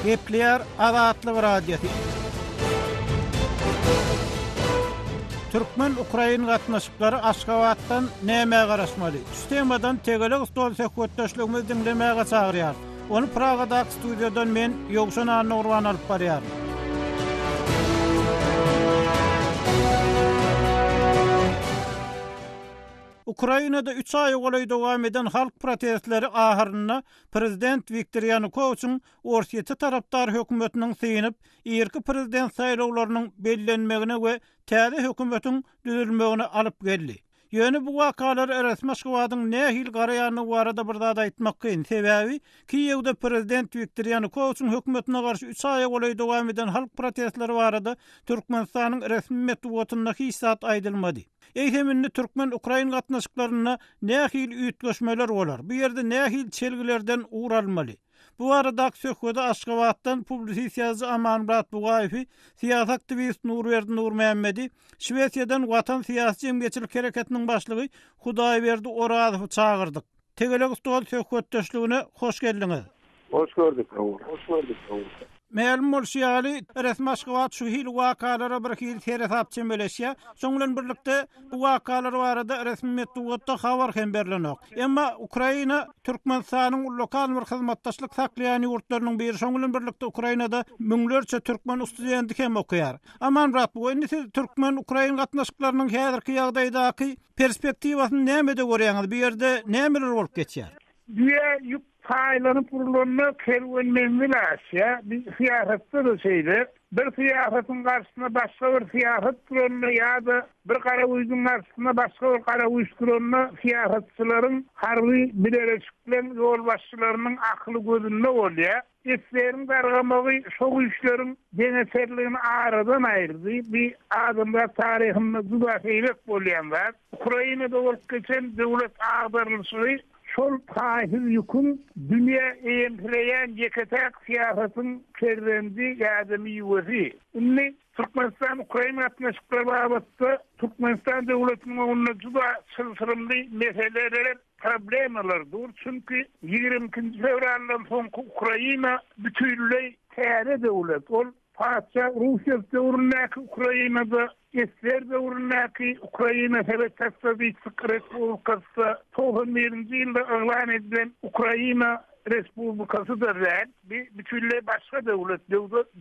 Gepleýär Azatlyk Radiosy. Türkmen-ukrain gatnaşyklary Aşgabatdan nämä garaşmaly? Şu temadan tegelek stol söhbetdeşligimizi diňlemäge çagyrýar. Ony Pragadaky studiýadan men Ýowşan Annagurban alyp barýar. Ukrainada üç aýa golaý dowam eden halk protestleri ahyrynda prezident Wiktor Ýanukowiçiň Orsýete tarapdar hökümetiniň synyp, irki prezident saýlawlarynyň bellenmegine we täze hökümetiň düzülmegine alyp geldi. Ýöne bu wakalar resmi Aşgabadyň nähili garaýandygy barada bir zat aýtmak kyn, sebäbi Kiýewde prezident Wiktor Ýanukowiçiň hökümetine garşy üç aýa golaý dowam eden halk protestleri barada Türkmenistanyň resmi metbugatynda hiç zat aýdylmady. Eýsem indi türkmen-ukrain gatnaşyklarynda nähili üýtgeşmeler bolar, bu ýerde nähili çelgilerden ugur alynmaly? Bu baradaky söhbede Aşgabatdan publisist ýazyjy Amanmyrat Bugaýewi, syýasy aktiwist Nurberdi Nurmämmedi, Şwesiýadan Watan syýasy-jemgyýetçilik hereketiniň başlygy Hudaýberdi Orazowy çagyrdyk. Tegelek stol söhbetdeşligine hoş geldiňiz! Hoş gördük, Raul. Hoş gördük, Raul. Mälim bolşy ýaly, resmi Aşgabat şu hili wakalara bir hili seresap çemeleşýär. Şoň bilen birlikde, bu wakalar barada resmi metbugatda habar hem berlenok. Emma Ukraina Türkmenistanyň lokal bir hyzmatdaşlyk saklaýan ýurtlarynyň biri. Şoň bilen birlikde, Ukrainada müňlerçe türkmen studenti hem okaýar. Amanmyrat, bu indi siz türkmen-ukrain gatnaşyklarynyň häzirki ýagdaýdaky Perspektiwasyny nämede görýäňiz? Bu ýerde nämeler bolup geçýär? Düýe ýük paýlanyp urlanda kerwen menzil aşýar. Biz syýasatda-da şeýle. Bir syýasatyň garşysyna başga bir syýasat duranda ýa-da bir garagüýzüň garşysyna başga bir garagüýş duranda syýasatçylaryň harby bileleşikleň ýolbaşçylarynyň akyly gözünde bolýar. Esleriň dargamagy şo güýçleriň deňeçerligini aradan aýyrdy. Bu adamzat taryhynda juda seýrek bolýan zat. Ukrainada bolup geçen döwlet agdarylyşygy şol taýsyz ýüküň dünýä eýemsireýän ýeke-täk syýasatyň perzendi ýa-da miwesi. Indi Türkmenistan-Ukraina gatnaşyklary babatda Türkmenistan döwletiniň öňünde juda çylşyrymly meseleler, Problemalar dur, çünki ýigrimi ikinji fewraldan soňky Ukraina bütinleý täze döwlet. Ol patyşa Russýew döwründäki Ukraina-da, SSR döwründäki Ukraina Sowet Sosýalistik Respublikasy-da, togsan birinji ýylda yglan edilen Ukraina Respublikasy-da däl. Bi bütinleý başga döwlet,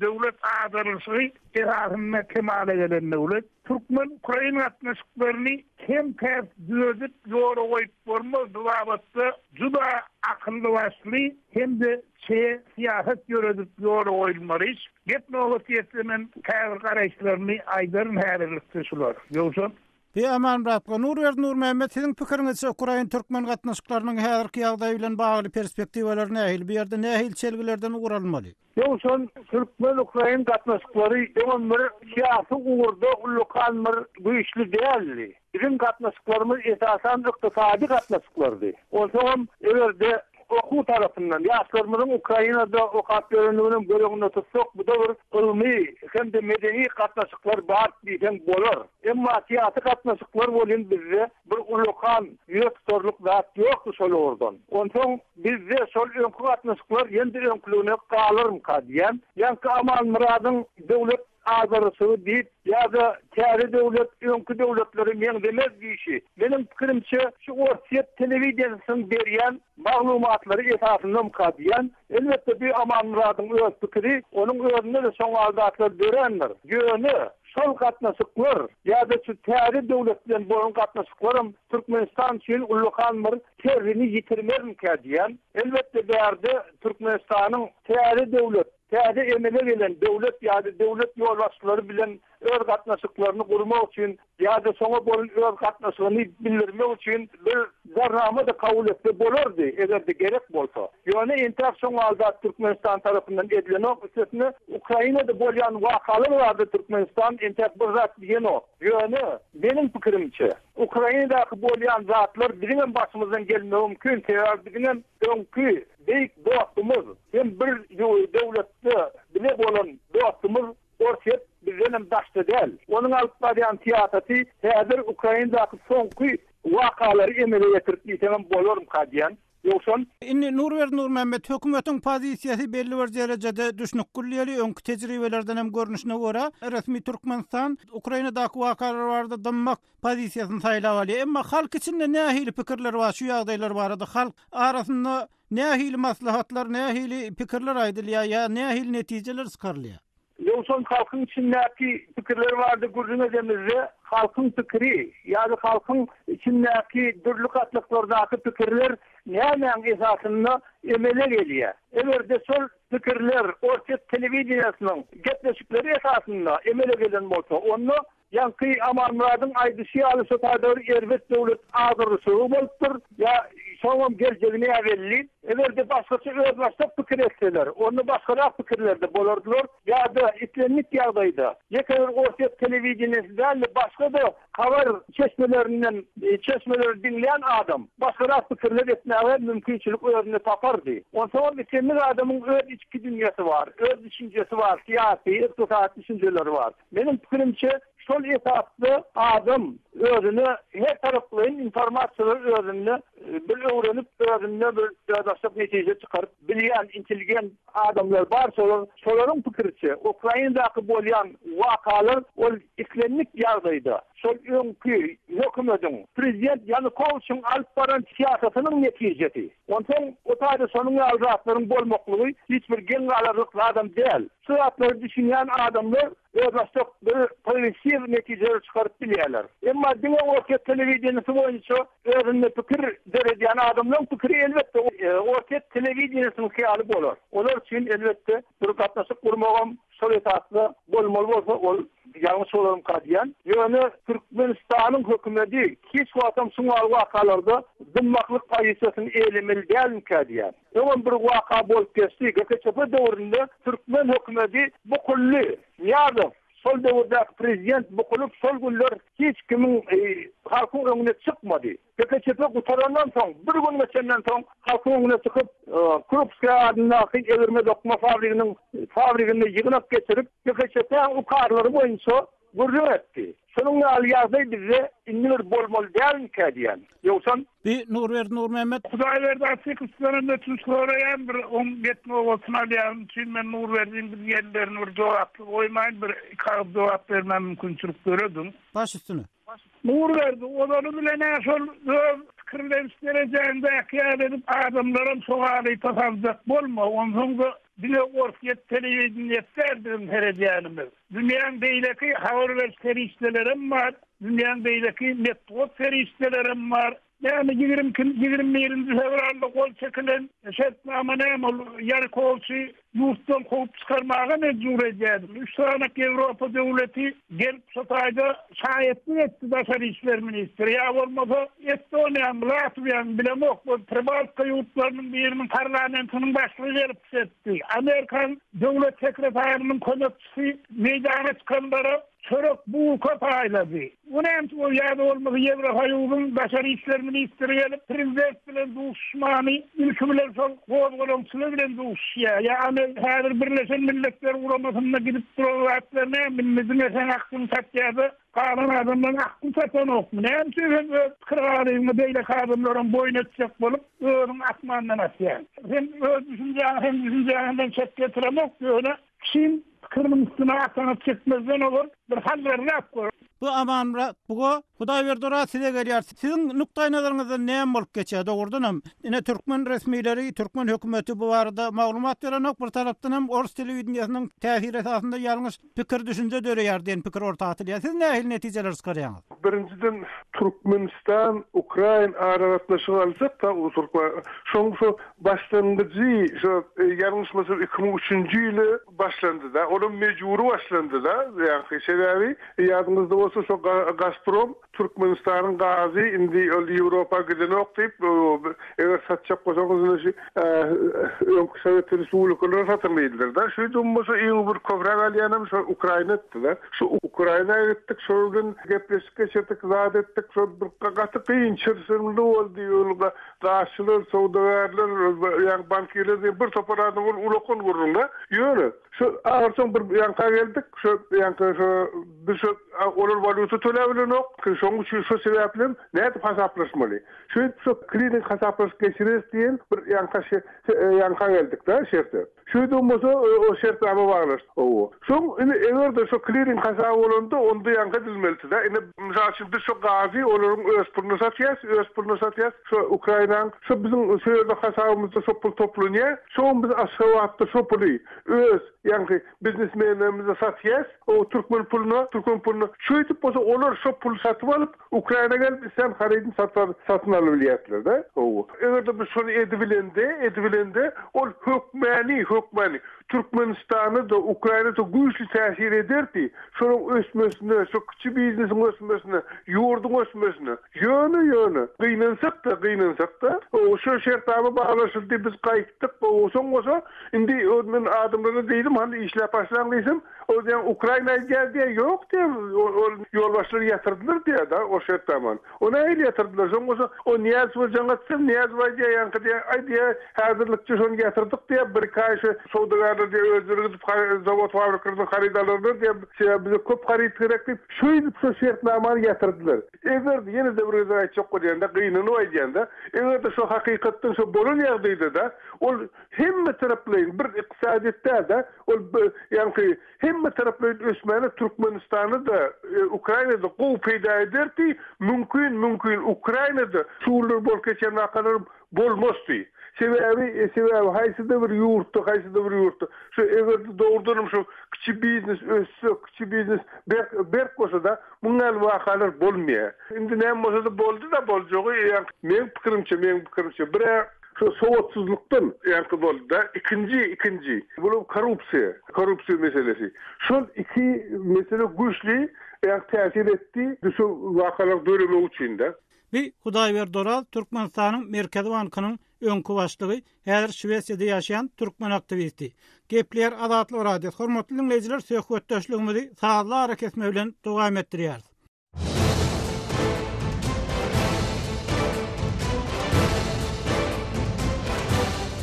döwlet agdarylyşy esasynda kemala gelen döwlet. Türkmen-ukrain gatnaşyklaryny kem-käs dözüp ýola goýup bolmazdygy babatda juda akylly-başly hem-de çeýe syýasat ýöredip ýola goýulmaly iş. Gep nobat ýetse men käbir garaýyşlarymy aýdaryn häzirlikçe şular. Ýogsa. He aman Rabka. Nurberdi Nurmämmet siziň pikiriňizçe ukrain türkmen gatnaşyklarynyň häzirki ýagdaýy bilen bagly perspektiwalary nähili, bu ýerde nähili çelgilerden ugur alynmaly? Döwşan, türkmen-ukrain gatnaşyklary doňan bir syýasy ugurda ullakan bir güýçli däldi. Biziň gatnaşyklarymyz esasan ykdysady gatnaşyklardy. Onsoňam, eger-de okuw tarapyndan, ýaşlarymyzyň Ukrainada okap ýörendiginem göz öňünde tutsak, bu-da bir ylmy hem-de medeni gatnaşyklar bar diýseň bolar. Emma syýasy gatnaşyklar welin bizde Bir ullakan ýüze tutarlyk zat ýokdy şol ugurdan. Onsoň bizde şol öňki gatnaşyklar ýene-de öňküligine galarmyka diýýän. Ýaňky Amanmyradyň döwlet azaryşygy diýip, ýa-da täze döwlet öňki döwletlere meňzemez diýşi, meniň pikirimçe, şu Orsýet telewideniýesiniň berýän maglumatlary esasyndanmyka diýýän. Elbetde, bi Amanmyradyň öz pikiri, onuň özünde-de şoň al zatlar dörändir. Ýöne, şol gatnaşyklar ýa-da şu täze döwlet bilen bolan gatnaşyklaram Türkmenistan üçin ullakan bir terrini ýitirmezmikä diýýän. Elbetde, bärde Türkmenistanyň täze döwlet, täze emele gelen döwlet ýa-da döwlet ýolbaşçylary bilen öz gatnaşyklaryny gurmak üçin ýa-da şoňa bolan öz gatnaşygyny bildirmek üçin bir jarnama-da kabul etse bolardy, eger-de gerek bolsa. Ýöne entäk şoň halda Türkmenistan tarapyndan edilenok, üstesine, Ukrainada bolýan wakalar barada Türkmenistan entäk bir zat diýenok. Ýöne, meniň pikirimçe, Ukrainadaky bolýan zatlar biziňem başymyzdan gelmegi mümkin, sebäbi biziňem öňki beýik dostumyz hem bir döwletde bile bolan dostumyz Orsýet bizdenem daşda däl. Onuň alyp barýan syýasaty häzir Ukrainadaky soňky wakalary emele getirip diýseňem bolarmyka diýýän. Ýogsam. Indi Nurberdi Nurmämmet, hökümetiň pozisiýasy belli bir derejede düşnük gülýäli, öňki tejribelerdenem görnüşine görä, resmi Türkmenistan Ukrainadaky wakalar barada dymmak pozisiýasyny saýlap alýar. Emma halk içinde nähili pikirler bar şu ýagdaýlar barada? Halk arasynda Nähili maslahatlar, nähili pikirler aýdylýar ýa nähili netijeler çykarylýar? Ýowşan halkyň içindäki pikirler bar diýip gürrüň edemizde, halkyň pikiri ýa-da halkyň içindäki dürli gatlaklardaky pikirler nämäň esasynda emele gelýär? Eger-de şol pikirler orsýet telewideniýesiniň gepleşikleri esasynda emele gelen bolsa, onda Ýaňky Amanmyradyň aýdyşy ýaly şo taýda bir erbet döwlet agdarylyşygy bolupdyr. Ýa şoňam geljegi näbelli. Eger-de başgaça özbaşdak pikir etseler, onda başgarak pikirlerde bolardylar. Ýa-da islendik ýagdaýda, ýeke bir orsýet telewideniýesi däl-de, başga-da habar çeşmelerinden çeşmeleri diňleýän adam başgarak pikirler etmäge mümkinçilik özünde tapardy. Onsoňam islendik adamyň öz içki dünýäsi bar, öz düşünjesi bar, syýasy, ykdysady düşünjeleri bar. Meniň pikirimçe, şol esasda adam özüne her taraplaýyn informasiýalary özünde bir öwrenip, özünde bir özbaşdak netije çykaryp bilýän intelligent adamlar bar, şolar, şolaryň pikiriçe, Ukrainadaky bolýan wakalar ol islendik ýagdaýda şol öňki hökümediň, prezident Ýanukowiçiň alyp baran syýasatynyň netijesi. Onsoň o taýda şonuň ýaly zatlaryň bolmaklygy hiç bir geň galarlyk zadam däl. Şu zatlara düşünýän adamlar özbaşdak bir progressiw netijeler çykaryp bilýärler. Emma diňe Orsýet telewideniýesi boýunça özünde pikir döredýän adamlaryň pikiri elbetde Orsýet telewideniýesiniňki ýaly bolar. Olar üçin elbetde bir gatnaşyk gurmagam şol esasda bolmaly bolsa ol ýalňyş bolarmyka diýýän. Ýöne Türkmenistanyň hökümedi hiç wagtam şuňaly wakalarda dymmaklyk pozisiýasyny eýlemeli dälmikä diýýän. Öňem bir waka bolup geçdi. GKÇP döwründe türkmen hökümedi Bukully, Nyýazow, şol döwürdäki prezident Bukulyp şol günler hiç kimiň halkyň öňüne çykmady. GKÇP gutarandan soň, bir gün geçenden soň halkyň öňüne çykyp, Krupskiý adyndaky egirme-dokma fabriginiň fabriginde ýygnak geçirip, GKÇP-niň ukarlary boýunça Gürrüň etdi. Şonuň ýaly ýagdaý bizde indi bir bolmaly dälmikä diýýän. Ýogsam. Bi, Nurberdi Nurmämmet. Hudaýberdi Atyk Islenip ötünç soraýan bir oň get nobatyny alýanym üçin men Nurberdiň biz ýerlerini bir jogapsyz goýmaýyn bir iki agyz jogap bermän mümkinçilik dörediň. Baş üstüne. Nurberdi, ozany bilen-ä şol öz pikirleniş derejäňdäki ýaly edip adamlaram şo galypa saljak bolma, onsoň-da Diňe Orsýet telewideniýesi däl biziň seredýänimiz. Dünýäň beýleki habar beriş serişdelerem bar, dünýäň beýleki metbugat serişdelerem bar. Näme ýigrimi ikinji, ýigrimi birinji fewralda gol çekilen şertnama näme ol Ýanukowiçi ýurtdan kowup çykarmaga mejbur edýärmi? Üç sany Ýewropa döwleti gelip şu taýda Şaýatlyk etdi Daşary işler ministri, ýa bolmasa Estoniýanyň, Latwiýanyň, bilemok, bir Pribaltika ýurtlarynyň biriniň parlamentiniň başlygy gelip çykyş etdi. Amerikanyň döwlet sekretarynyň kömekçisi meýdana çykanlara çörek, bulka paýlady. Bu näme, ýa-da bolmasa Ýewrosoýuzyň Daşary işler ministri gelip, prezident bilen duşuşmany ilki bilen şol gozgalaňçylar bilen duşuşýar. Ýagny häzir Birleşen Milletler Guramasynda gidip duran zatlar näme indi diňe seň aklyň satýada galan adamlaryň akly satanokmy näme üçin sen öz pikir galyňy beýleki adamlaram boýun etjek bolup özüň asmandan asýaň. Sen öz düşünjäňi hem düşünjäňden çet getiremok ýöne Çyn pikiriniň üstüni arsana çekmezden owal bir hallerläp görüň. Bu Amanmyrat buga Hudaýberdi ora size gelýär. Siziň nukdaýnazaryňyzdan näme bolup geçýär? Dogrudan hem, ine türkmen resmileri, türkmen hökümeti bu barada maglumat berenok, bir tarapdan hem ors telewideniýesiniň täsiri esasynda ýalňyş pikir-düşünje döreýär diýen pikir orta atylýar. Siz nähili netijeleri çykarýaňyz? Birinjiden Türkmenistan, Ukraina aragatnaşygy alsak, ta uly türkmen, şoň şo Başlangyjy şo ýalňyşmasam iki müň üçünji ýyly başlandyda. Olam mejbury başlandyda. Ýaňky sebäbi ýadyňyzda bolsa şo Gazprom Türkmenistanyň gazy indi ol Ýewropa gidenok diýip eger satjak bolsaňyz indi şu öňki Sowet Respublikalara satyň diýdiler-de. Şeýdibem bolsa iň bir köpräk alýanam şo Ukraina etdida. Şu Ukraina gitdik şolar bilen gepleşik geçirdik zat etdik şo bir gaty kyn çyrşyrymly boldy ol Daşçylar, söwdagärler, ýagny bankirler diýen bir topar adam ol ulakan gürrüňde. Ýöne, şu ahyrsoňy bir ýanka geldik. Şu ýanka şu biz şu olar walýuta töläp bilenok. Şonuň üçin şu sebäplem nädip hasaplaşmaly? Şeýdip şu kliring hasaplaşyk geçireris diýen bir ýanka ýanka geldik-de şertde. Şeýdibem bolsa, ol şertnama baglaşdy. Hawa. Soň, indi eger-de şo kliring hasaby bolanda, onda ýaňky edilmelidi-dä. Indi, mysal üçin, biz şo gazy olaryň öz puluna satýarys, öz puluna satýarys. Şo Ukrainaň, şo biziň şo ýerde hasabymyzda şo pul toplanýar. Soň biz Aşgabatda şo puly öz, ýaňky, biznesmenlerimize satýarys, o türkmen puluna, türkmen puluna. Şeýdip bolsa, olar şo puly satyp alyp, Ukraina gelip islen harydyny satar satyn alybilýärtlerde gowy. Egerde biz şony edibilende edibilende ol hökmäni hökmäni Türkmenistana da Ukraina da güýçli täsir ederdi şonuň ösmesine şu kiçi biznesiň ösmesine ýurduň ösmesine ýöne ýöne gynansak da gynansak da gowy şu şertnama baglaşyldy biz gaýtdyk gowy soň bolsa indi ol men adamlara diýdim hany işläp başlaň diýsem Ol diýýän Ukraina edýär diýýär, ýok diýýär, ol ýolbaşçylary ýatyrdylar diýýär da, ol şert zaman. O nähili ýatyrdylar, şoň bolsa o Nyýazowa jaň atsa, Nyýazow aýdýar ýaňky diýýär, aý diýýär, häzirlikçe şony ýatyrdyk diýýär, bir-iki aý şu söwdagärler diýýär özleri gidip zawod-fabrikalardan haryt alarlar diýýär, sebäbi bize köp haryt gerek diýip, şeýdip şu şertnamany ýatyrdylar. Eger-de, ýene-de bir gezek aýtjak bolýan-da, gynanyp aýdýan-da, eger-de şu hakykatdan şu bolan ýagdaýda-da, ol, hemmetaraplaýyn bir ykdysadyýet däl-de, ol ýaňky hemmetaraplaýyn ösmäne Türkmenistana-da, Ukraina-da gowy peýda ederdi, mümkin, mümkin Ukraina-da şugundyr bolup geçen wakalar bolmazdy. Sebäbi, sebäbi haýsy-da bir ýurtda, haýsy-da bir ýurtda şu eger-de dogrudanam şu kiçi biznes össe, kiçi biznes berk, berk bolsa-da, munuň ýaly wakalar bolmaýar. Indi näme bolsa-da boldy-da, boljagy ýaňky meň pikirimçe, meň pikirimçe bir-ä, Şu sowatsyzlykdan ýaňky boldy-da, ikinji, ikinji, bul korrupsiýa, korrupsiýa meselesi. Şol iki mesele güýçli ýa täsir etdi, şu wakalar döremegi üçin-de. Bi Hudaýberdi Oraz Türkmenistanyň Merkezi bankynyň öňki başlygy, häzir Şwesiýada ýaşaýan türkmen aktiwisti. Gepleýär Azatlyk Radiosy. Hormatly diňleýjiler, söhbetdeşligimizi sazly arakesme bilen dowam etdirýäris.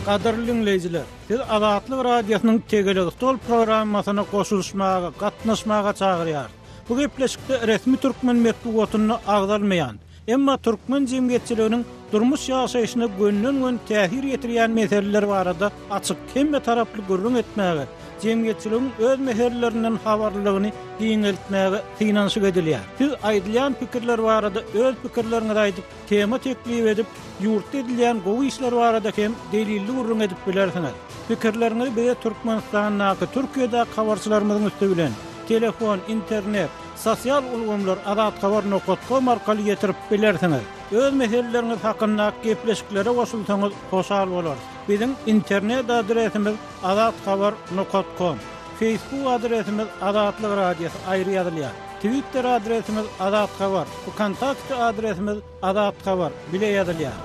Gadyrly dinleýjiler, siz Azatlyk Radiosynyň Tegelek stol programmasyna goşulyşmaga, gatnaşmaga çagyrýar. Bu gepleşikde resmi türkmen metbugatynda agzalmaýan, emma türkmen jemgyýetçiliginiň durmuş ýaşaýşyna gönden-gön täsir ýetirýän meseleler barada açyk, hemmetaraplaýyn gürrüň etmäge, Jemgyýetçiligiň öz mähellerinden habarlylygyny giňeltmäge synanyşyk edilýär. Siz aýdylýan pikirler barada öz pikirleriňizi aýdyp, tema teklip edip, ýurtda edilýän gowy işler barada hem delilli gürrüň edip bilersiňiz. Pikirleriňizi bize Türkmenistandaky, Türkiýedäki habarçylarymyzyň üsti bilen, telefon, internet, sosial ulgamlar, Azathabar nokat kom arkaly ýetirip bilersiňiz. Öz meseleleriňiz hakyndaky gepleşiklere goşulsaňyz hoşal bolarys. Biziň internet adresimiz, Azat habar nokat kom. Feýsbuk adresimiz Azatlyk Radiosy aýry ýazylýar. Twitter adresimiz Azat habar. Wkontakte adresimiz Azat habar bile ýazylýar.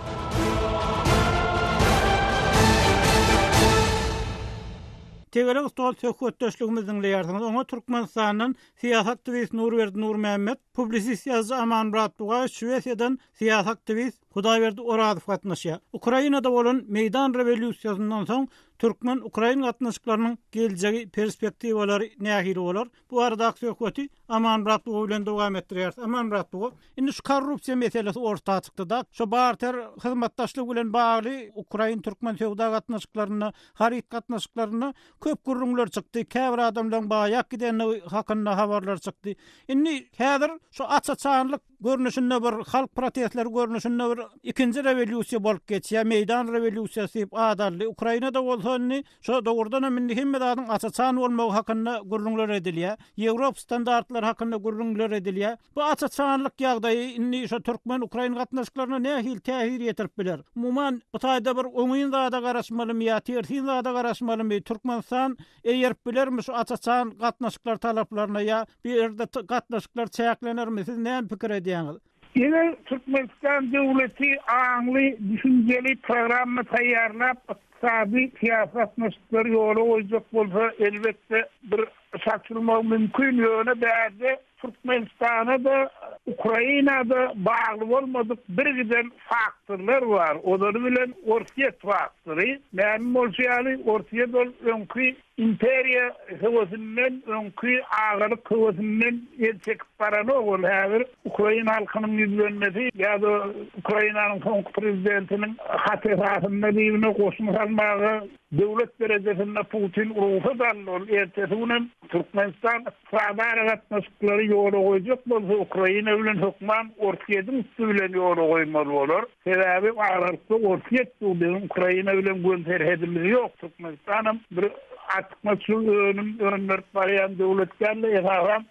Tegelek stol söhbetdeşligimizi diňleýärsiňiz. Oňa Türkmenistandan syýasaktiwist Nurberdi Nurmämmet, publisist ýazyjy Amanmyrat Bugaýew, Şwesiýadan syýasaktiwist, Hudaýberdi Orazow gatnaşýar. Ukrainada bolan Meýdan rewolýusiýasyndan soň türkmen-ukrain gatnaşyklarynyň geljegi, perspektiwalary nähili bolar? Bu baradaky söhbeti Amanmyrat Buga bilen dowam etdirýäris. Amanmyrat Buga, indi şu korrupsiýa meselesi orta çykdy-da, şu barter hyzmatdaşlygy bilen bagly ukrain-türkmen söwda gatnaşyklarynda, haryt gatnaşyklarynda köp gürrüňler çykdy, käbir adamlaryň baýak gidendigi hakynda habarlar çykdy. Indi häzir şu aç-açanlyk görnüşinde bir halk protestleri görnüşinde bir ikinji rewolýusiýa bolup geçýär meýdan rewolýusiýasy diýip at aldy ukrainada bolsa indi şo dogrudan hem indi hemme zadyň aç açan bolmagy hakynda gürrüňler edilýär ýewrop standartlary hakynda gürrüňler edilýär bu aç açanlyk ýagdaýy indi şo türkmen ukrain gatnaşyklaryna nähili täsir ýetirip biler umuman bu taýda bir oňyn zada garaşmalymy ýa tersin zada garaşmalymy türkmenistan Eýerip bilermi şu aç-açan gatnaşyklar talaplaryna ýa bir erde gatnaşyklar çäklenermi siz näme pikir edýäňiz? Ine Türkmenistan döwleti aňly, düşünjeli programma taýýarlap ykdysady, syýasy gatnaşyklary ýola goýjak bolsa elbetde bir saçylmagy mümkin ýöne bärde Türkmenistana-da, Ukraina-da bagly bolmadyk birgiden faktorlar bar, olary bilen Orsýet faktory. Mälim bolşy ýaly, Orsýet ol öňki imperiýa höwesinden, öňki agalyk höwesinden el çekip baranok. Ol häzir ukrain halkynyň ýüzlenmesi ýa-da Ukrainanyň soňky prezidentiniň haty esasynda dibine goşun salmaga döwlet derejesinde Putin rugsat aldy. Ol ertesi günem Türkmenistan Saud aragatnaşyklary ýola goýjak bolsa Ukraina bilen hökman Orsýediň üsti bilen ýola goýmaly bolar. Sebäbi aralyda Orsýet bu biziň Ukraina bilen göni serhedimiz ýok. Türkmenistanam bir artykmaçly önüm öndürip barýan döwlet däldi. Esasan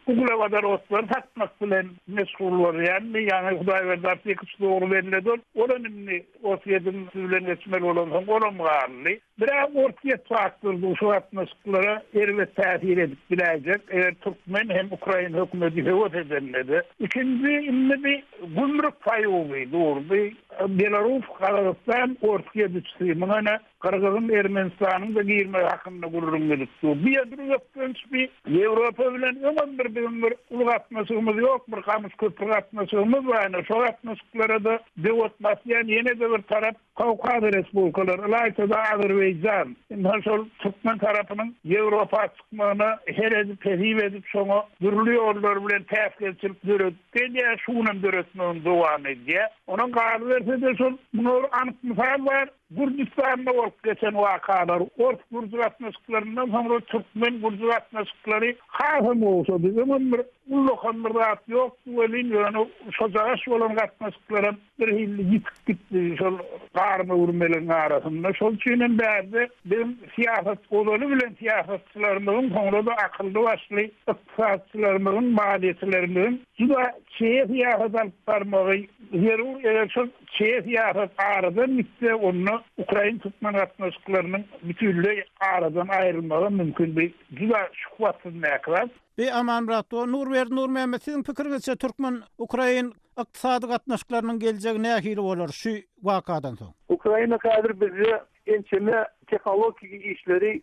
uglewodorotlary satmak bilen meşgul bolýandy. Ýaňy Hudaýberdi Artykow dogry belledi ol. Olam indi Orsýetiň siz bilen etmeli bolan soň olam galdy. Biraz Orsýet faktory bu şu gatnaşyklara erbet täsir edip biläýjek, eger türkmen hem ukrain hökümeti höwes edendede. Ikinji indi bi gümrük paýuby durdy. Belarus, Gazagystan Orsýet üçsi muňa ne? Gyrgyzyň Ermenistanyň da girmegi hakynda gürrüň edip dur. Bu ýerde bir bökdenç bi. Ýewropa bilen öňem bir biziň bir uly gatnaşygymyz ýok, bir gamyş köpri gatnaşygymyz bar. Ine, şo gatnaşyklara-da döwet basýan ýene-de bir tarap Kawkaz respublikalary, ylaýta-da Azerbaýjan. Ynha, şol türkmen tarapynyň Ýewropa çykmagyna her edip, hesip edip, şoňa dürli ýollar bilen päsgelçilik döredip gelýär, şu günem döretmegini dowam edýär. Onam galyberse-de şol, muňa bir anyk mysal bar. Gürjüstanda bolup geçen wakalar, ors-gürji gatnaşyklaryndan soňra türkmen-gürji gatnaşyklary hasam gowşady. Öňem bir ullakan bir zat ýokdy welin, ýöne şojagaş bolan gatnaşyklaram birhili ýitip gitdi şol garynöwürmeligiň arasynda. Şol üçin hem bärde biziň syýasat ozaly bilen syýasatçylarymyzyň, soňra-da akylly-başly ykdysatçylarymyzyň, maliýeçilerimiziň juda çeýe syýasat alyp barmagy zerur. Eger şol Çeýe syýasat aradan gitse, onda ukrain-türkmen gatnaşyklarynyň bütinleý aradan aýrylmagy mümkin. Bu juda şuhbatsyz mäklap. Beý Aman brat, bu Nurberdi Nurmämmet siziň pikiriňizçe türkmen ukrain ykdysady gatnaşyklarynyň geljegi nähili bolar şu wakadan soň? Ukraina häzir bizde Ençeme tehnologiki işleri,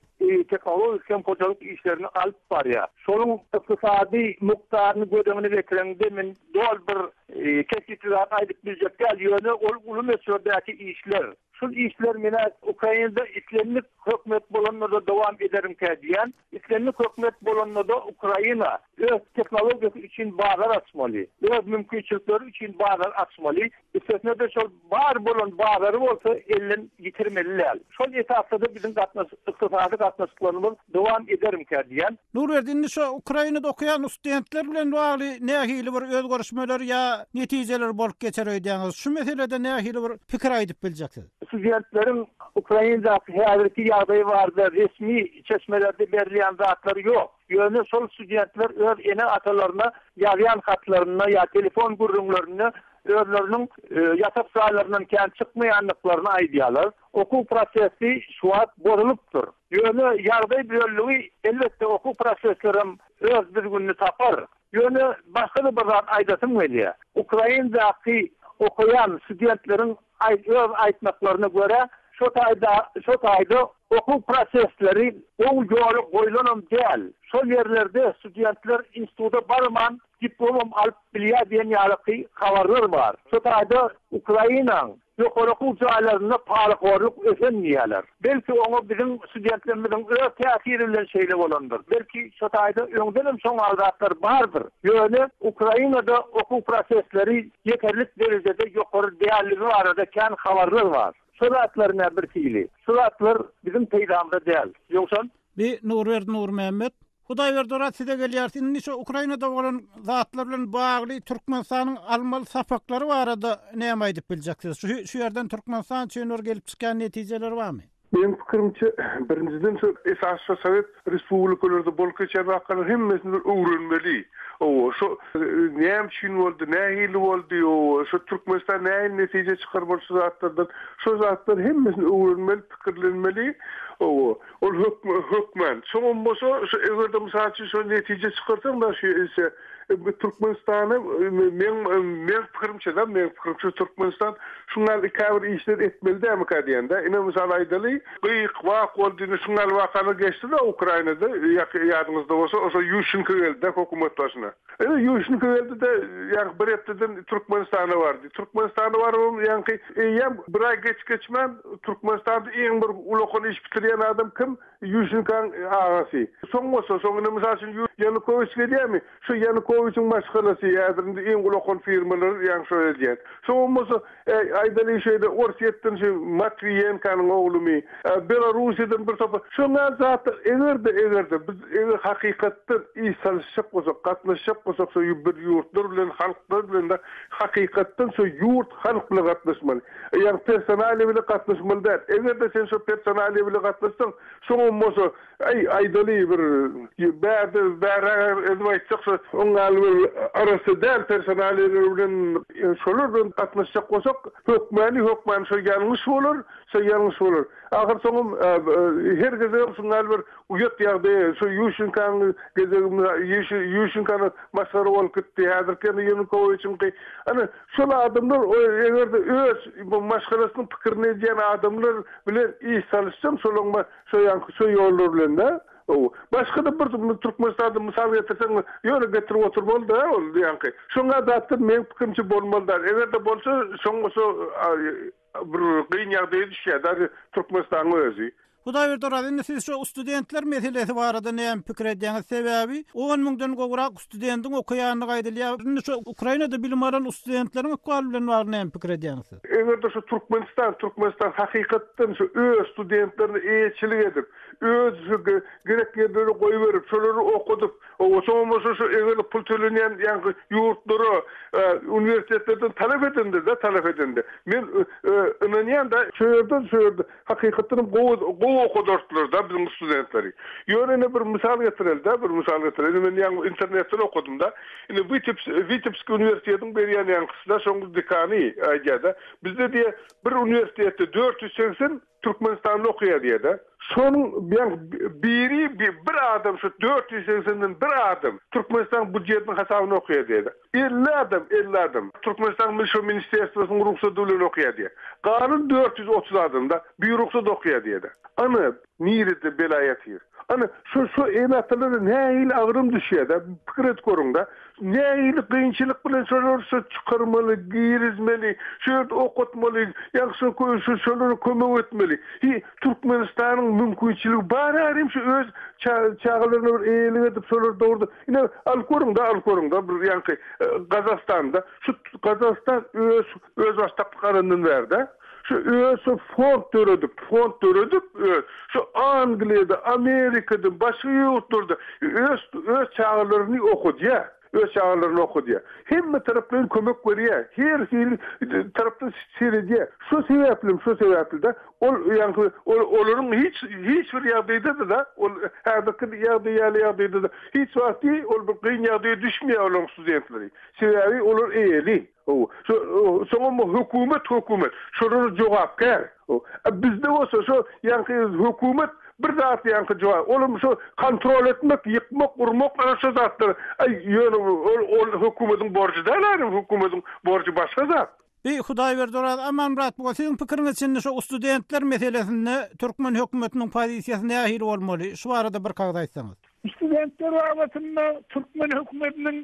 tehnologik hem hojalyk işlerini alyp barýar. Şonuň ykdysady mukdaryny göz öňüne getireňde, men doly bir kesgitli zat aýdyp biljek däl, ýöne ol uly möçberdäki işler. Şul işler menä Ukrainada islendik hökümet bolanlarda dowam ederimkä diýýän. Islendik hökümet bolanda-da Ukraina öz tehnologiýasy üçin bazar açmaly, öz mümkinçilikleri üçin bazar açmaly, üstesine-de şol bar bolan bazary bolsa elden ýitirmeli däl. Şol esasda-da biziň gatnaşyk, ykdysady gatnaşyklarymyz dowam edermkä diýýän. Nurberdi, indi şo Ukrainada okaýan ustdentler bilen bagly nähili bir özgerişmeler ýa netijeler bolup geçer öýdýäňiz? Şu meselede nähili bir pikir aýdyp biljeksiz? Studentleriň Ukrainadaky häzirki ýagdaýy barada resmi çeşmelerde berilýän zatlar ýok. Ýöne şol studentler öz ene-atalaryna ýazýan hatlarynda ýa telefon gürrüňlerinde özleriniň ýatak jaýlaryndan kän çykmaýandyklaryny aýdýarlar. Okuw prosesi şu wagt bozulypdyr. Ýöne ýagdaý düzeldi, elbetde okuw prosesleri hem öz düzgünini tapar. Ýöne başga-da bir zat aýdasym gelýär. Ukrainadaky okaýan studentleriň Aýt öz aýtmaklaryna görä, şo taýda şo taýda okuw prosesleri gowy ýola goýlanam däl. Şol ýerlerde studentler instituta barman diplomam alyp bilýär diýen ýalyky habarlar bar. Şo taýda Ukrainaň ýokary okuw jaýlarynda parahorlyk ösen diýýärler. Belki oňa biziň studentlerimiziň öz täsiri bilen şeýle bolandyr. Belki şo taýda öňdenem şoňal zatlar bardyr. Ýöne Ukrainada okuw prosesleri ýeterlik derejede ýokary dälligi barada kän habarlar bar. Şo zatlar nä birhili. Şu zatlar biziň peýdamyza däl. Ýogsam. Bi Nurberdi Nurmämmet Hudaýberdi rat size gelýäris indi şu Ukrainada bolan zatlar bilen bagly Türkmenistanyň almaly sapaklary barada näme aýdyp biljeksiz? Şu şu ýerden Türkmenistan üçin bir gelip çykýan netijeleri barmy? Meň pikirimçe birinjiden şu esasy şu sowet respublikalarda bolup geçýän wakalar hemmesini bir öwrenmeli. Oba şu näme üçin boldy, nähili boldy, oba şu Türkmenistan nähili netije çykarmaly şu zatlardan şu zatlar hemmesini öwrenmeli, pikirlenmeli, oba. Ol hökm hökmän. Şoňam bolsa, şu eger-de mysal üçin şo netije çykarsaň da şu ýerse, bu Türkmenistana meň meň pikirimçe-de, meň pikirimçe Türkmenistan şuň ýaly käbir işler etmeli dälmikä diýen-de. Ine, mysal aýdaly, gyýyk wagt boldy, indi şuň ýaly wakalar geçdi-de Ukrainada, ýa ýadyňyzda bolsa, oso Ýuşenko geldi-de hökümet başyna. Ine, ýuwuşnyky geldi-de, ýaňky bir hepdeden Türkmenistana bardy. Türkmenistana barybam, ýaňky eýýäm bir aý geç-geçmän Türkmenistanda iň bir ulakan iş bitirýän adam kim? Ýuwuşnykaň agasy. Soň bolsa, soň indi, mysal üçin, Ýanukowiç gelýärmi? Şu Ýanukowiçiň maşgalasy häzir indi iň ulakan firmalary ýaňky şol edýän. Soňam bolsa, Äý, aýdalyň şeýle, Orsýetden şu Matwiýenkanyň oglumy, Belorussiýadan bir topar, şoňa zatlar, eger-de, eger-de, biz eger hakykatdan iş salyşjak bolsak, gatnaşjak bolsak şo bir ýurtlar bilen, halklar bilen-de hakykatdan şo ýurt, halk bilen gatnaşmaly. Ýagny personaliýa bilen gatnaşmaly däl. Eger-de sen şo personaliýa bilen gatnaşsaň, şoňam bolsa, Aý, aýdaly bir bärde bäräge edip aýtjaksa, oň ýaly bir arassa däl personaliýalar bilen şolar bilen gatnaşjak bolsak, hökmany, hökmany şo ýalňyş bolar, şo ýalňyş bolar. Ahyr soňam her gezegem şuň ýaly bir uýat ýagdaýa, şo Ýuşenkanyň gezegi Ýuşe Ýuşenkana masgara bolup gitdi, häzirki ýene Ýanukowiçiňki. Ana, şol adamlar eger-de öz bu maşgalasynyň pikirini edýän adamlar bilen iş salyşsam, şolaryň Şoýanky şo ýollar bilen-dä. Ow. Başga-da bir Türkmenistanda mysal getirseň, ýöne getirip oturmaly-da ol diýýänki. Şoňa datdan meň pikirimçe bolmaly-da. Eger-de bolsa, şoňa şo bir gyn ýagdaýa düşýär-dä Türkmenistanyň özi. Hudaýberdi Oraz, indi siz şo studentler meselesi barada näme pikir edýäňiz? Sebäbi on müňden gowrak studendiň okaýandygy aýdylýar. Indi şu Ukrainada bilim alan ustudentleriň ykbaly bilen bagly näme pikir edýäňiz siz? Eger-de şu Türkmenistan, Türkmenistan hakykatdan şu öz studentlerine eýeçilik edip, öz şu ge, gerek ýerleri goýberip, şolary okadyp, o, soňam bolsa şu eger-de pul tölenýän ýaňky ýurtlara, e, uniwersitetlerden talap edende-de, talap edende, men, e, e, ynanýan-da, şu ýerde, şu ýerde, Hakykatdan hem gowy gowy okadardylar-da biziň studentleri. Ýöne ine bir mysal getireli-dä, bir mysal getireli. Indi men ýaňy internetden okadym-da. Indi Witeps Witebsk uniwersitetiň berýän ýaňkysy-da şoň dekany aýdýar-da, bizde diýýär, bir uniwersitetde dört ýüz segsen türkmenistanly okaýar diýýär-dä. Şonuň ýaňky biri bir adam şu dört ýüz segsenden bir adam Türkmenistanyň býujetiniň hasabyna okaýar diýýär-dä. Elli adam, elli adam. Türkmenistanyň Milşo ministrerstwosynyň rugsady bilen okaýar diýýär. Galan dört ýüz otuz adam-da birugsat okaýar diýýär-de. Ana, nirede bela ýatyr. Ana, şu, şu ene-atalara nähili agram düşýär-dä, pikir edip görüň-dä. Nähili kynçylyk bilen şolary şu çykarmaly, girizmeli, şu ýerde okatmaly, ýa-da şu, şu, şolara kömek etmeli. Hi, Türkmenistanyň mümkinçiligi bar-a, hem şu öz ça, çagalaryna bir eýelik edip, şolary dogry Ine, alyp görüň-de, alyp görüň-de, bir ýaňky Gazagystanda, şu Gazagystan öz özbaşdaklyk alandan bärde, şu öz şu fond döredip, fond döredip öz, şu Angliýada, Amerikada, başga ýurtlarda öz, öz çagalaryny okadýar, öz çagalaryny okadýar. Hemme taraplaýyn kömek berýär, her hili tarapdan seredýär. Şu sebäplem, şu sebäpli-de Ol, ýagny, ol, olaryň hiç, hiç bir ýagdaýda-da, ol häzirki ýagdaý ýaly ýagdaýda-da hiç wagt deý ol bir kyn ýagdaýa düşmeýär olaryň studentleri. Sebäbi olar eýeli. Hawa, şo, soňam bu hökümet, hökümet şolara jogapkär. O, a bizde bolsa şo, ýagny, hökümet bir zat, ýagny, jogap, olam şo kontrol etmek, ýykmak, urmak, ana şo zatlar. Aý, ýöne ol, ol hökümetiň borjy däl-ä, hökümetiň borjy başga zat. Eý Hudaýberdi Oraz Amanmyrat bu siziň pikiriňiz çyndy şo ustudentler meselesinde türkmen hökümetiniň pozisiýasy nähili bolmaly şu barada bir kagyz aýtsaňyz. Ustudentler babatynda türkmen hökümetiniň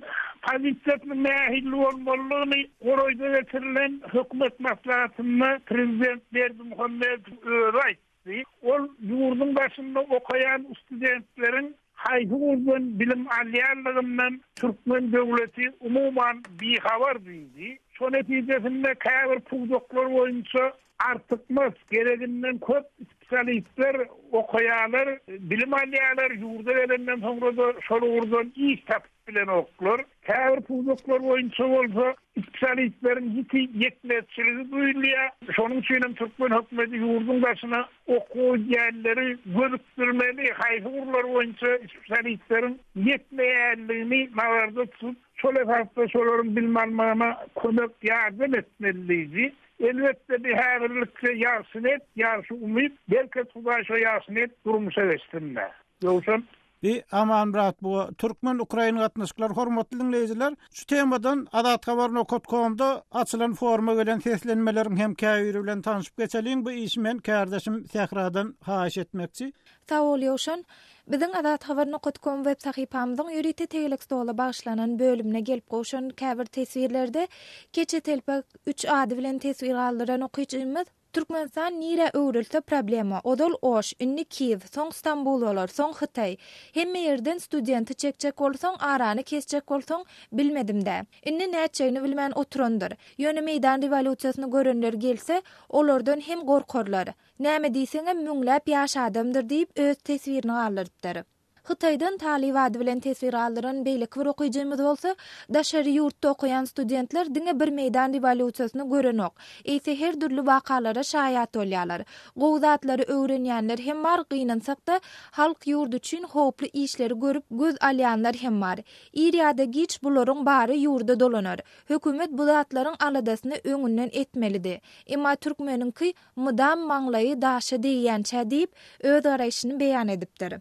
pozisiýasynyň nähili bolmalydygyny Goroýda geçirilen hökümet maslahatynda prezident Berdimuhamedow özi aýtdy. Diýip, ol ýurduň daşynda okaýan studentleriň haýsy gurdan bilim alýanlygyndan türkmen döwleti umuman bihabar diýdi. Şo netijesinde käbir pudaklar boýunça artykmaç, gereginden köp spesialistler okaýarlar, bilim alýarlar, ýurda gelenden soňra-da şol ugurdan iş tapyp bilenoklar. Käbir pudaklar boýunça bolsa spesialistleriň ýiti ýetmezçiligi duýulýar. Şonuň üçin hem türkmen hökümeti ýurduň daşyna okuwa gidýänleri gönükdirmeli, haýsy ugurlar boýunça spesialistleriň ýetmeýändigini nazarda tutup, şol esasda şolaryň bilim almagyna kömek, ýardam etmelidigi. Elbetde, bi häzirlikçe ýagşy net, ýagşy umyt. Belki, Hudaý şo ýagşy net durmuşa geçsin-dä. Ýogsam, Bi Aman brat bu Türkmen Ukrain gatnaşyklar hormatly diňleýjiler şu temadan Azat Haber nokat komda açylan forma gelen seslenmeleriň hem käbiri bilen tanşyp geçeliň bu işi men kärdeşim Sähradan haýyş etmekçi. Sag bol Ýowşan. Biziň Azat Haber nokat kom web sahypamyzyň ýörite tegelek stola bagyşlanan bölümine gelip gowşan käbir teswirlerde Keçe telpek üç ady bilen teswir galdyran okyjymyz, Türkmenistan nirä öwrülse problema, ozal Oş, indi Kiýew, soň Stambul bolar, soň Hytaý. Hemme ýerden studenti çekjek bolsaň, arany kesjek bolsaň, bilmedim-dä. Indi nätjegini bilmän oturandyr. Ýöne meýdan rewolýusiýasyny görenler gelse, olardan hem gorkarlar. Näme diýseňem, müňläp ýaş adamdyr diýip, öz teswirini galdyrypdyr. Hytaýdan talyp ady bilen teswir aldyran beýleki bir okyjymyz bolsa, Daşary ýurtda okaýan studentler diňe bir meýdan rewolýusiýasyny görenok, eýse her dürli wakalara şaýat bolýarlar. Gowy zatlary öwrenýänler hem bar, gynansak-da, halk, ýurt üçin howply işleri görüp göz alýanlar hem bar. Ir ýa-da giç bularyň bary ýurda dolanar. Hökümet bu zatlaryň aladasyny öňünden etmelidi. Emma türkmeniňki Mydam maňlaýy daşa degýänçä diýip, öz garaýşyny beýan edipdir.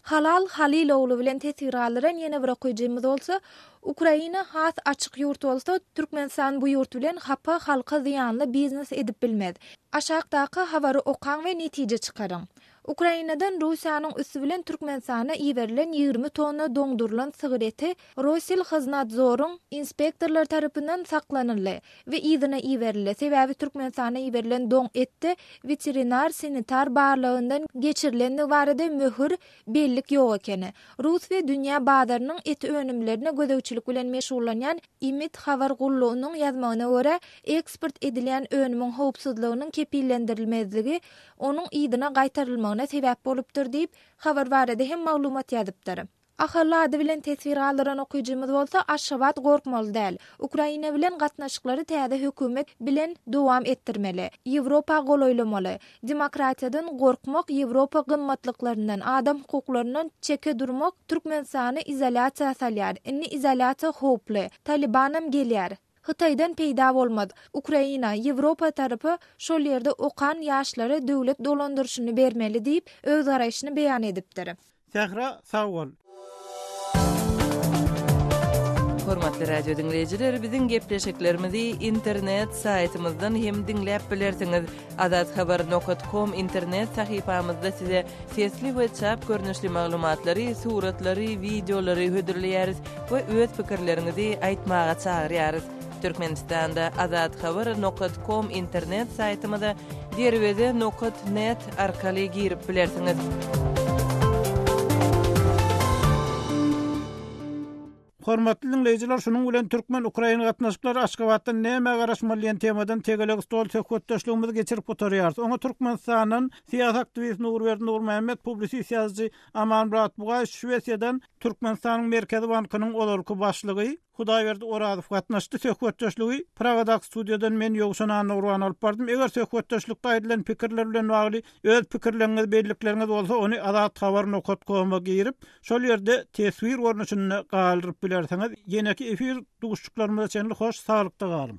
Halal Halil ogly bilen teswir galdyran ýene bir okyjymyz bolsa, Ukraina has açyk ýurt bolsa, Türkmenistan bu ýurt bilen hapa, halka zyýanly biznes edip bilmez. Aşakdaky habary okaň we netije çykaryň. Ukrainadan Russiýanyň üsti bilen Türkmenistana iberilen ýigrimi tonna doňdurylan sygyr eti Rosilhoznadzoryň inspektorlary tarapyndan saklanyldy we yzyna iberildi, sebäbi Türkmenistana iberilen doň etde weterinar-sanitar barlagyndan geçirilendigi barada möhür, bellik ýok ekeni. Rus we dünýä bazarynyň et önümlerine gözegçilik bilen meşgullanýan IMID habar gullugynyň ýazmagyna görä, eksport edilýän önümiň howpsuzlygynyň kepillendirilmezligi onuň yzyna gaýtarylmagyna sebäp bolupdyr diýip, habar barada hem maglumat ýazypdyr. Ahal ady bilen teswir galdyran okyjymyz bolsa Aşgabat gorkmaly däl. Ukraina bilen gatnaşyklary täze hökümet bilen dowam etdirmeli. Ýewropa golaýlamaly. Demokratiýadan gorkmak, Ýewropa gymmatlyklaryndan, adam hukuklaryndan çeke durmak Türkmenistany izolýasiýa salýar. Indi izolýasiýa howply. Talybanam gelýär. Hytaýdan peýda bolmaz. Ukraina, Ýewropa tarapy şol ýerde okan ýaşlara döwlet dolandyryşyny bermeli diýip, öz garaýşyny beýan edipdir. Sähra sag bol. Hormatly radio diňleýjiler, biziň gepleşiklerimizi internet saýtymyzdan hem diňläp bilersiňiz. Azathabar nokat kom internet sahypamyzda size sesli we çap görnüşli maglumatlary, suratlary, wideolary hödürleýäris we öz pikirleriňizi aýtmaga çagyrýarys. Türkmenistanda Azathabar nokat kom internet saýtymyza derweze nokat net arkaly girip bilersiňiz. Hormatly diňleýjiler, şunuň bilen türkmen-ukrain gatnaşyklary Aşgabatdan nämä garaşmaly diýen temadan tegelek stol söhbetdeşligimizi geçirip gutarýarys. Oňa Türkmenistandan syýasy aktiwist Nurberdi Nurmämmet, publisist ýazyjy Amanmyrat Bugaýew, Şwesiýadan Türkmenistanyň Merkezi bankynyň ozalky başlygy, Hudaýberdi Orazow gatnaşdy. Söhbetdeşligi Praga-daky studiýadan men Ýowşan Annagurbany alyp bardym. Eger söhbetdeşlikde aýdylan pikirler bilen bagly öz pikirleriňiz, bellikleriňiz bolsa, ony Azat Habar nokat koma girip, şol ýerde teswir görnüşinde galdyryp bilersiňiz. Ýeneki efir duşuşyklarymyza çenli hoş saglykda galyň!